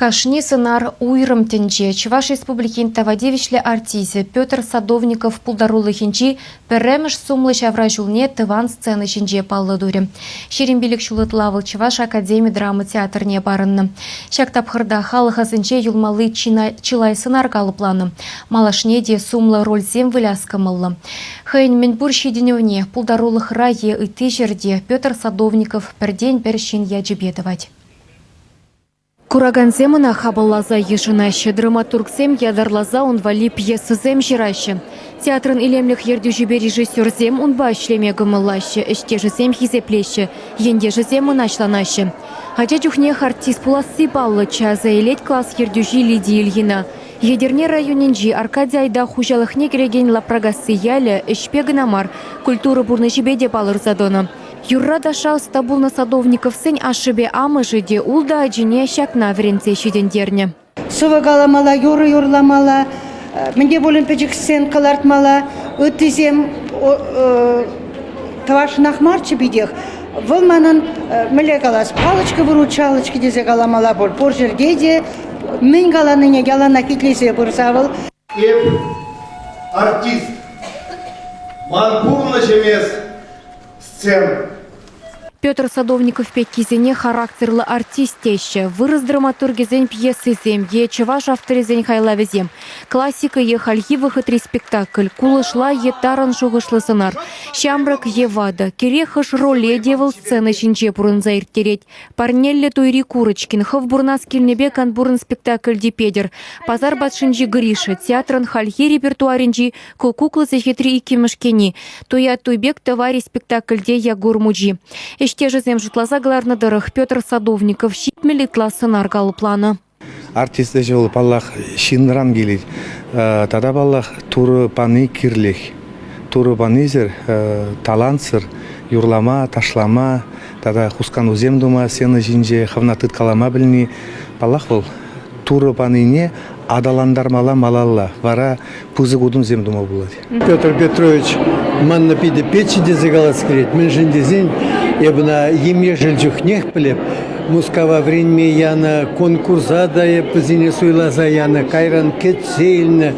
Кашни сӑнар уйрӑм тӗнче Чӑваш Республикин тава тивӗҫлӗ артисчӗ Петр Садовников пултарулӑхӗнчи пӗрремӗш сумлӑ ҫавра ҫулне тӑван сцена ҫинче паллӑ турӗ. Ҫирӗм пилӗк ҫул ытла вӑл Чӑваш академи драма театрне парӑннӑ. Ҫак тапхӑрта халӑх асӗнче юлмалли чылай сӑнар калӑпланӑ. Малашне те сумлӑ рольсем выляс кӑмӑллӑ. Хӑйӗн мӗнпур ҫитӗнӗвне пултарулӑхра е ытти ҫӗрте Петр Садовников пӗртен-пӗр ҫын ячӗпе тӑвать. Куракансем ӑна хапӑлласа йышӑнаҫҫӗ. Драматургсем ятарласа ун валли пьесӑсем ҫыраҫҫӗ. Театрӑн илемлӗх ертӳҫипе режиссерсем унпа ӗҫлеме кӑмӑллаҫҫӗ, ӗҫтешӗсем хисеплеҫҫӗ, ентешӗсем мӑнаҫланаҫҫӗ. Ача чухнех артист пуласси паллӑччӗ, аса илет класс ертӳҫи Лидия Ильина. Етӗрне районӗнчи Аркадий Айда хуҫалӑхне кӗрекен Лапракасси ялӗ ӗҫпе кӑна мар, культура пурнӑҫӗпе те палӑрса тӑнӑ. Юрра-ташша ӑста пулнӑ Садовниковсен ашшӗпе амӑшӗ те, ултӑ ачине ҫакна вӗрентсе ҫитӗнтернӗ. Сӑвӑ каламалла, юрӑ юрламалла, мӗн те пулин пӗчӗксен кӑлартмалла. Ыттисем тӑвашшӑнах марччӗ питех. Вӑл манӑн мӗнле калас, палочка вырут, шалочка тесе каламалла пур. Пур ҫӗрте те мӗн каланине яланах итлесе пырса вӑл. Эп артист. Ман пурнӑҫӑм эс сцена. Петр Садовников пеккисене характерлӑ артист теҫҫӗ. Вырӑс драматургӗсен пьесисем е чӑваш авторӗсен хайлавӗсем, классика е хальхи вӑхӑтри спектакль, кулӑшла е тарӑн шухӑшлӑ сӑнар, ҫамрӑк е ватӑ, кирек хӑш роле те вӑл сцена ҫинче пурӑнса ирттерет. Парнеллӗ туйри Курочкин хӑв пурӑнас килнипе канпурӑн спектакльти Петӗр, Пасар патшинчи Гриша, театрӑн хальхи репертуарӗнчи Ку кукла сехетри иккӗмӗш кӗни, Туят Туйпек тӑвари спектакльте Ягур мучи. Ӗҫтешӗсем шутласа кӑларнӑ тӑрӑх Петр Садовников ҫитмӗл ытла сӑнар калӑпланӑ. Артист ӗҫӗ вӑл, паллах, ҫынран килет. Тата, паллах, Турӑ пани кирлех. Турӑ панисӗр, талантсӑр юрлама, ташлама тата хусканусем тума, сцена ҫинче хӑвна тыткалама пӗлни, паллах, вӑл Турӑ панине аталантармалла малалла, вара пысӑк утӑмсем тума пулать. Петр Петрович манна питӗ печчӗ тесе калас килет. Мӗншӗн тесен эп ӑна ем-ешӗл чухнех пӗлеп. Мускава вӗренме янӑ, конкурса та эп вӗсене суйласа янӑ, кайран кӗтсе илнӗ.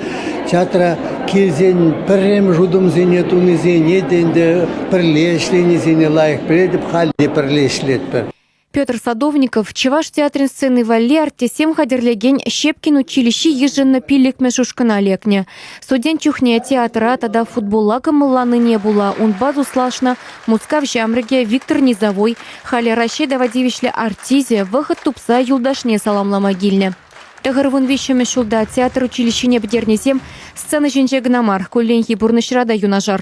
Театра килсен пӗрремӗш утӑмсене тунисене те ӗнтӗ пӗрле ӗҫленисене лайӑх пӗлетӗп, халь те пӗрле ӗҫлетпӗр. Петр Садовников Чӑваш театрӗн сцени валли артистсем хатӗрлекен Щепкин училищи йышӑннӑ пиллӗкмӗш ушкӑна лекнӗ. Студент чухне театра тата футболла кӑмӑлланине пула унпа туслашнӑ Мускав ҫамрӑкӗ Виктор Низовой, халӗ Раҫҫей тава тивӗҫлӗ артисчӗ, вӑхӑт тупса юлташне саламлама килнӗ. Тӑхӑр вун виҫҫӗмӗш ҫулта театр училищине пӗтернисем сцена ҫинче кӑна мар, кулленхи пурнӑҫра та юнашар.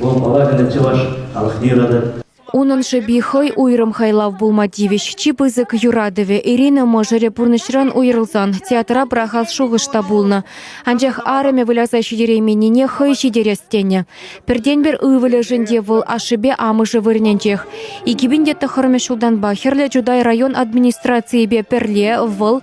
вӑл палаканӗ чӑваш халӑхне юратать. Унӑн шӑпи хӑй уйрӑм хайлав пулма тивӗҫ. Чи пысӑк юратӑвӗ Ирина мӑшӑрӗ пурнӑҫран уйрӑлсан театра пӑрахас шухӑш та пулнӑ. Анчах арӑмӗ выляса ҫитерейменнине хӑй ҫитерес тенӗ. Пӗртен-пӗр ывӑлӗшӗн те вӑл ашшӗпе амӑшӗ вырӑнӗнчех. Икӗ пин те тӑххӑрмӗш ҫултанпа Хӗрлӗ Чутай район администрацийӗпе пӗрле вӑл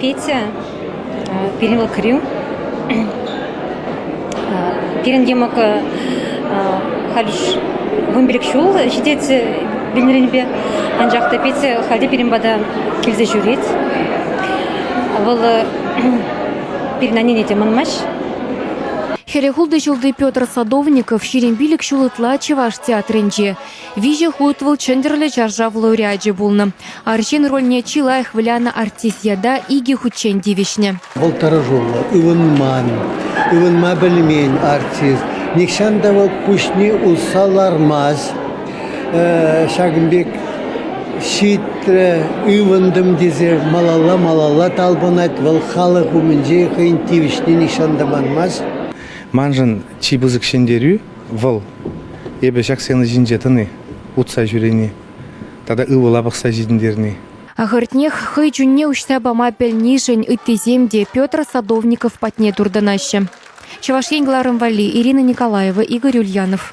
Петя пирӗн вӑкӑрӳ. Пирӗн йӑмӑкӑ халь вун пилӗк ҫул ҫитет вилнӗренпе, анчах та Петя халь те пирӗн пата килсе ҫӳрет. Вӑл пирӗн аннене те манмасть. Хӗрӗ хултӑ ҫулти Петр Садовников ҫирӗм пилӗк ҫул ытла Чӑваш театрӗнче, Виҫӗ хут вӑл Чӗнтӗрлӗ чаршав лауреачӗ пулнӑ. Арҫын рольне чи лайӑх вылянӑ артист ята икӗ хутчен тивӗҫнӗ. Вӑл тӑрӑшуллӑ, ывӑнман, ывӑнма пӗлмен артист. Нихҫан та вӑл куҫне усса лармасть. Ҫакӑн пек ҫитрӗ, ывӑнтӑм тесе малалла-малалла талпӑнать вӑл халӑх умӗнче хӑйӗн тивӗҫне нихҫан та манмасть. Маншӑн чи пысӑк ҫӗнтерӳ. вӑл эпӗ ҫак сцена ҫинче тӑни, утса ҫӳрени тата ывӑла пӑхса ҫитӗнтерни. Ахӑртнех, хӑй чунне уҫса пама пӗлнишӗн ыттисем те Петр Садовников патне туртӑнаҫҫӗ. Чӑваш Ен кӑларӑм валли Ирина Николаева, Игорь Ульянов.